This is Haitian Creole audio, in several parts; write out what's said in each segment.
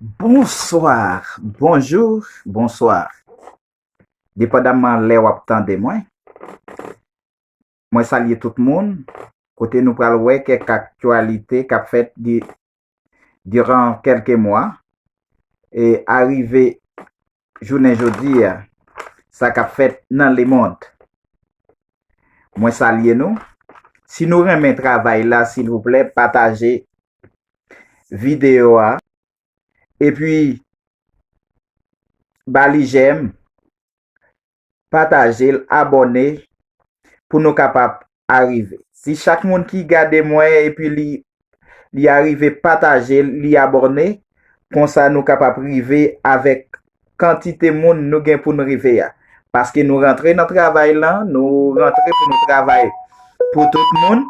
Bonsoir, bonjour, bonsoir. Depandaman lè wap tande mwen, mwen salye tout moun, kote nou pral wè kèk aktyalite kap fèt diran kelke mwa e arive jounen jodi a sa kap fèt nan lemond. Mwen salye nou, si nou renmen travay la silvouplè pataje video a epi ba li jèm patajel abòne pou nou kapab arive si chak moun ki gade mwen epi li li arive patajel li abòne konsa nou kapab rive avèk kantite moun nou gen pou nou rive ya paske nou rantre nan travay lan nou rantre pou nou travay pou tout moun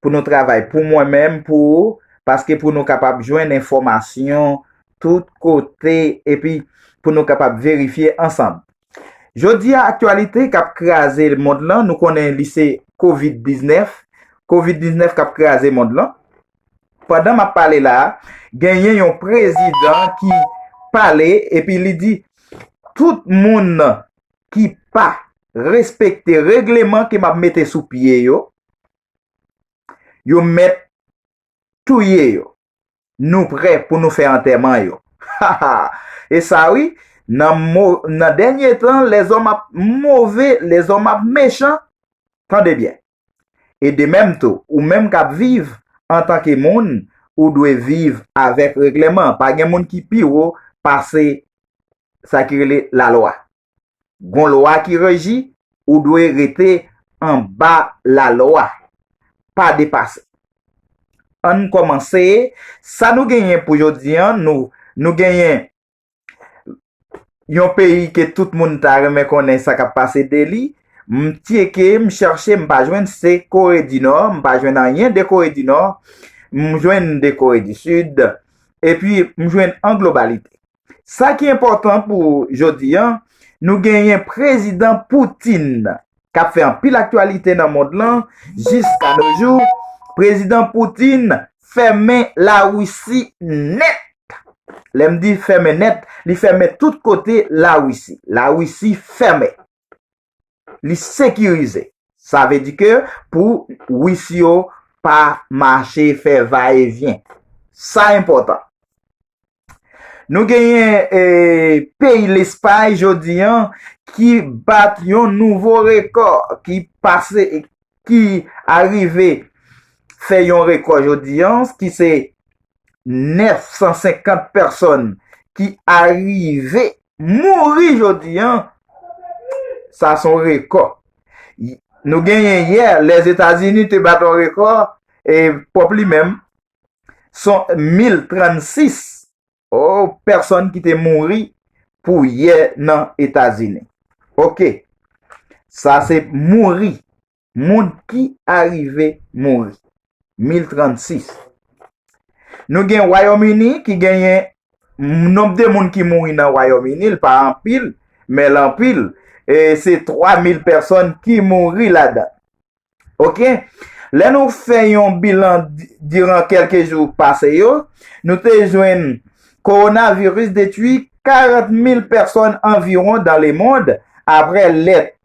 pou nou travay pou mwen menm pou ou paske pou nou kapab jwenn enfòmasyon tout kote epi pou nou kapab verifye ansanm. Jodi a aktyalite k ap kraze mond lan nou konnen li se Kovid 19, Kovid 19 k ap kraze mond lan. Pandan m ap pale la a, genyen yon prezidan ki pale epi li di tout moun ki pa respekte regleman ke m ap mete sou pye yo, yo mèt touye yo. Nou prè pou nou fè antèman yo. Ha ha! E sa wi, nan dènye tan, lèzòm ap move, lèzòm ap mechan. Tande byen! E de menm tou, ou menm k ap viv, antanke moun, ou dwe viv avèk reglèman. Pa gen moun ki pi wo pase sa ki rele lalwa. Gon lwa ki reji ou dwe rete anba la lwa. Pa depase. Ann komanse sa nou genyen pou jodi an nou nou genyen Yon peyi ke tout moun ta renmen konnen sa kap pase de li m tyeke m cherche m pa jwenn se kore di nò m pa jwenn anyen de kore di nò m jwenn de kore di sid epi m jwenn an globalite Sa ki enpòtan pou jodi an, nou genyen Prezidan Putin k ap fè anpil aktyalite nan mond lan, jiska no jou, Prezidan Putin fèmen Larisi nèt! Lè m di fèmen nèt, li fèmen tout kote Larisi. Larisi fèmen. li sekirize. Sa vle di ke pou wis yo pa mache fè va e vyen. Sa enpòtan. Nou genyen peyi Lespay jodi an ki bat yon nouvo rekò ki pase, ki arive fè yon rekò jodi an, ki se 950 pèsòn ki arive mouri jodi an, sa son rekò. Nou genyen yè, Lèzetazini te bat yon rekò, e pwòp li menm, son 1036 pèsòn ki te mouri pou yè nan Etazini. Ok, sa se mouri. Moun ki arive mouri. 1036. Nou gen Wayòm Ini ki genyen nonb de moun ki mouri nan Wayòm Ini l pa anpil, men l anpil. E se 3000 pèsòn ki mouri ladan. Ok. Lè nou fè yon bilan diran kèlke jou pase yo, nou te jwenn kowonaviris detui 40 mil pèsòn anviwon dan lemond apre lè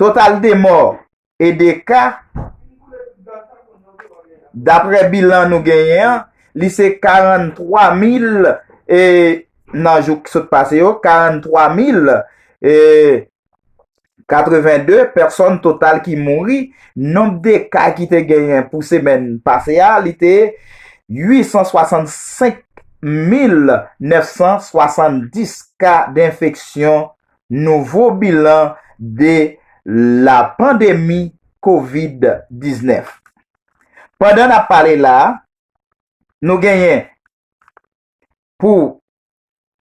Total de mò e de ka, dapre bilan nou genyen an, li se 43 mil e nan jou ki sot pase yo, 43 mil e 82 pèsòn total ki mouri. Nonb de ka ki te genyen pou semèn pase a, li te 865 mil 970 ka denfeksyon nouvo bilan de la pandemi covid 19. Pandan nap pale la, nou genyen pou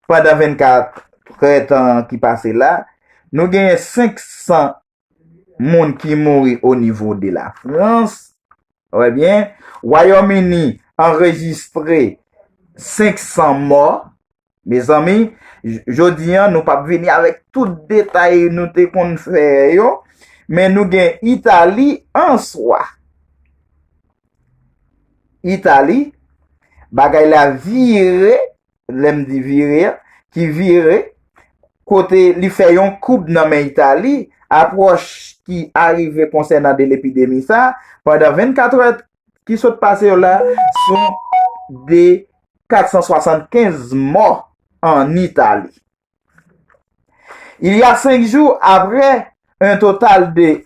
pandan 24 trè tan ki pase la, nou genyen 500 moun ki mouri o nivo de la Frans, wè byen, Wayòm Ini anrejistre 500 mò, mezanmi, jodi an nou pap vini avèk tout detay nou te konn fè yo, men nou gen Itali an swa. Itali, bagay la vire. lè m di vire a, ki vire, kote li fè yon koub nan men Itali, apwòch ki arive konsènan de lepidemi sa, pandan 24 è ki sot pase yo la, son de 475 mò an Itali. Il y a 5 jou apre, un total de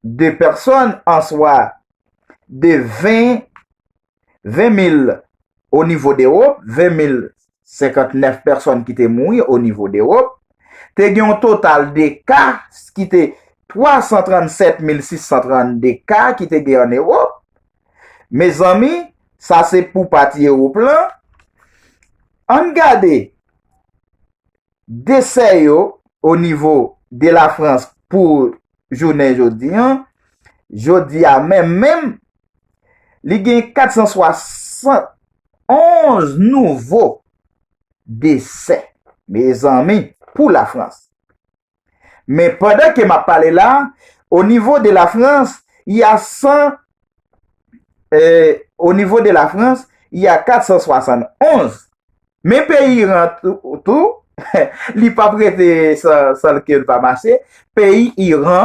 de pèsòn, answa de 20 20 mil o nivo dewop, 20 mil 59 pèsòn ki te mouri o nivo dewop, te gen yon total de ka ki te 337 mil 632 ka ki te gen an ewop, mezanmi sa se pou pati ewop lan, ann gade. Desè yo o nivo de la Frans pou jounen jodi an, jodi a menm menm, li gen 471 nouvo desè, mezanmi, pou la Frans. Men pandan ke m ap pale la, o nivo de la Frans, y a 100, o nivo de la Frans, y a 471 Men peyi Iran tou, li pap rete san ke l pa mache, peyi Iran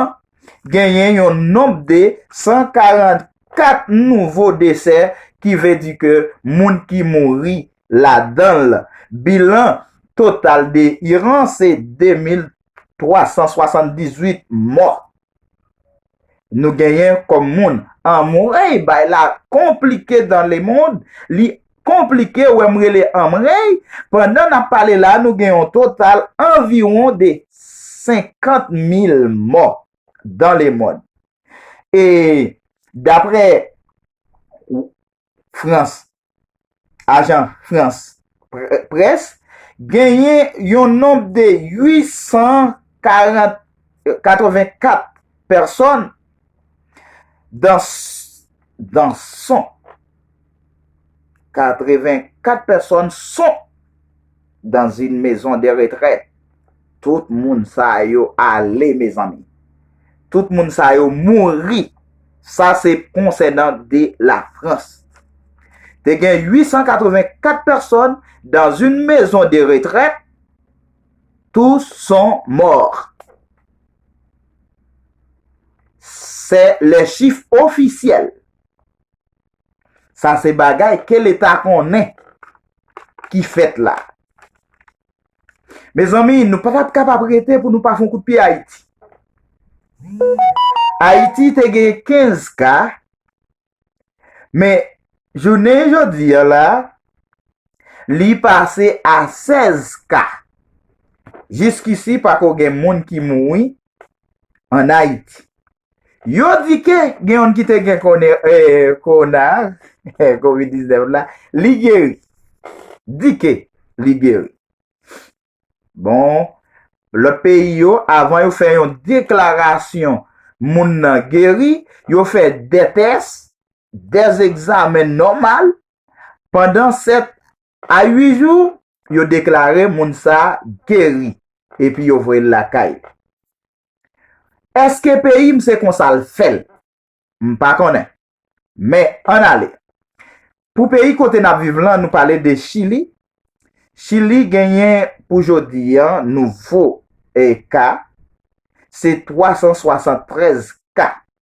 genyen yon nonb de 144 nouvo desè ki vle di ke moun ki mouri ladan l. Bilan total de Iran se 2378 mò. nou genyen kòm moun. Anmweyy bay la konplike dans le monde li konplike wèm rele anmreyy pandan nap pale la nou gen yon total anviwon de 50 mil mò dans le monde e daprè Frans, ajan Frans Près, genyen yon nonb de 884 pèsòn dan son 84 pèsòn son. dans une maison de retraite tout moun sa yo ale mezanmi tout moun sa yo mouri sa se konsènan de la France te gen 884 personnes dans une maison de retraite tous sont morts se les chiffres officiels Sa se bagay ke leta konnen ki fèt la. Mezanmi, nou pa tap kapab rete pou nou pa fon kout pye Ayiti. Ayiti te gen 15 ka, men jounen jodi an la, li pase a 16 ka. Jiskisi pa ko gen moun ki moui an Ayiti. Yo di ke gen youn ki te gen kowona a, covid 19 la, li geri. Di ke li geri. Bon, lòt peyi yo, avan yo fè yon deklarasyon moun nan geri, yo fè 2 tès, 2 egzamen nòmal, pandan 7 A 8 jou, yo deklare moun sa a geri epi yo voye l lakay. Èske peyi m se konsa l fè l? M pa konnen. Men, ann ale. Pou peyi kote n ap viv lan, nou pale de Chili. Chili genyen pou jodi a nouvo ka se 373 ka.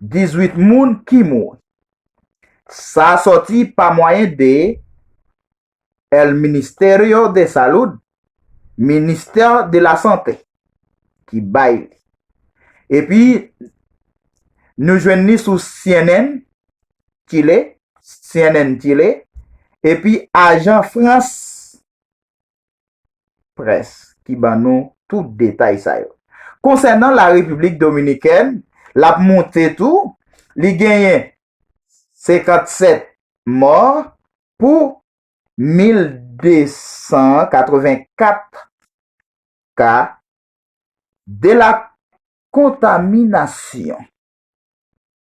18 moun ki mouri. Sa sòti pa mwayen de El Ministerio de Salud, Ministè de la Sante, ki bay li. Epi, nou jwenn li sou cnn Chile, epi ajan Frans Press ki ban nou tout detay sa yo. Konsènan la Repiblik Dominikèn, l ap monte tou, li genyen 57 mò pou 1,284 ka de la kontaminasyon.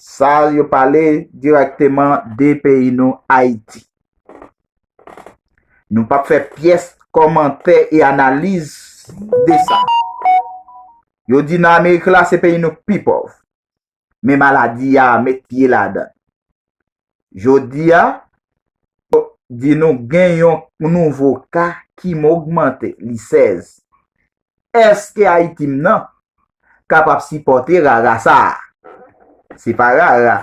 Sa yo pale direkteman de peyi nou Ayiti. Nou pap fè pyès kòmantè e analiz de sa. Yo di nan Amerik la se peyi nou k pi pòv. Men maladi a met pye ladan. Jodia, yo di nou gen yon nouvo ka ki mogmante, li 16. Eske Ayiti m nan kapab sipòte rara sa a? Se pa rara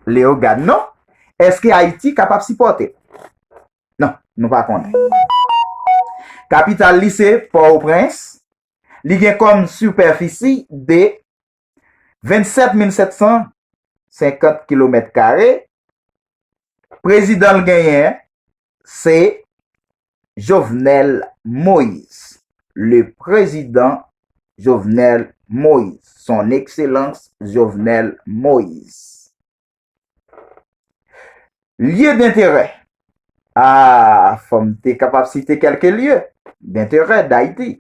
Leogane non. Eske Ayiti kapab sipòte l? Non, nou pa konnen. Kapital li se Pòtoprens. Li gen kòm sipèfisi de. 27750 kilomèt kare, prezidan l genyen se Jovenel Moise, le prezidan Jovenel Moise, son ekselans Jovenel Moise. Lye denterè, ah fò m te kapab site kèlke lye denterè Dayiti.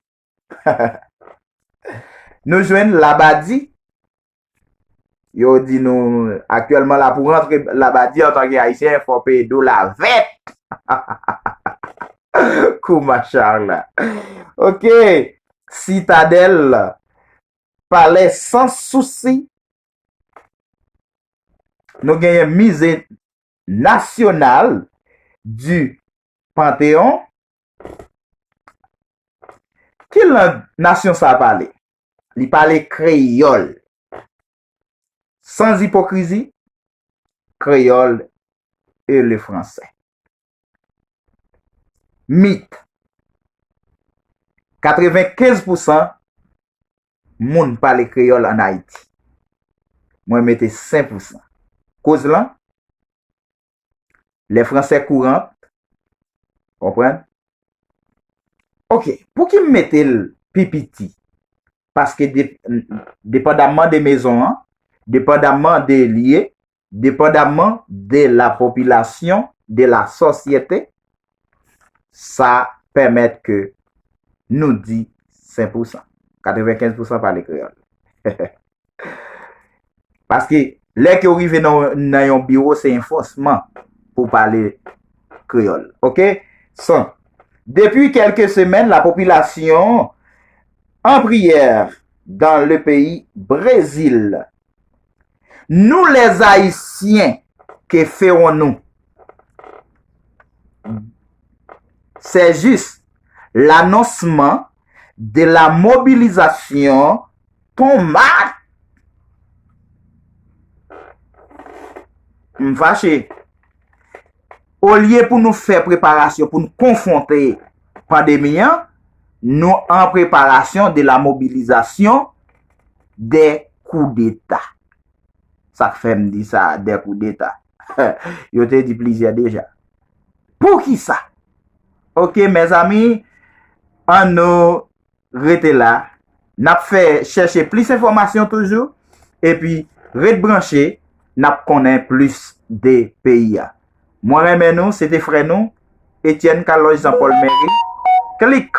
Nou jwenn Labadi, yo di nou aktyèlman la pou rantre Labadi an tanke Ayisyen fò peye dola vèt. Kou machar la. Ok, Sitadèl, palè san sousi. Nou genyen Mize Nasyonal di Panteon. Ki lang nasyon sa a pale? Li pale kreyòl. Sans ipokrizi, kreyòl e lefransè. Mit, Katrevenkez pousan moun pale kreyòl ann Ayiti. Mwen mete sen pousan. Koz lan? Le français courant. Konprann? Ok, pou ki m mete l pi piti? Paske depandamman de mezon an, depandamman de lye, depandamman de la popilasyon, de la sosyete, sa pèmèt ke nou di sen pousan. Katrevenkens pousan pale kreyòl. Paske, lè ke ou rive nan yon biwo, se yon fòsman pou pale kreyòl. Ok? San. Depi kelke semèn, la popilasyon an priyè dan le peyi Brezil. Nou les ayisyen ke feron nou se jis lanonsman de la mobilizasyon pon mat m fache olye pou nou fè preparasyon pou nou konfronte pandemi an nou an preparasyon de la mobilizasyon 2 koudeta. Sa k fè m di sa, 2 koudeta? Yo te di plizyè deja. Poukisa? Ok mezanmi, an nou rete la. N ap fè chèche plis enfòmasyon toujou. E pi ret branche, n ap konnen plis de peyi a. Mwen renmen nou, se te frè nou, Etienne Calòj Zanpòl Mèri. Klik!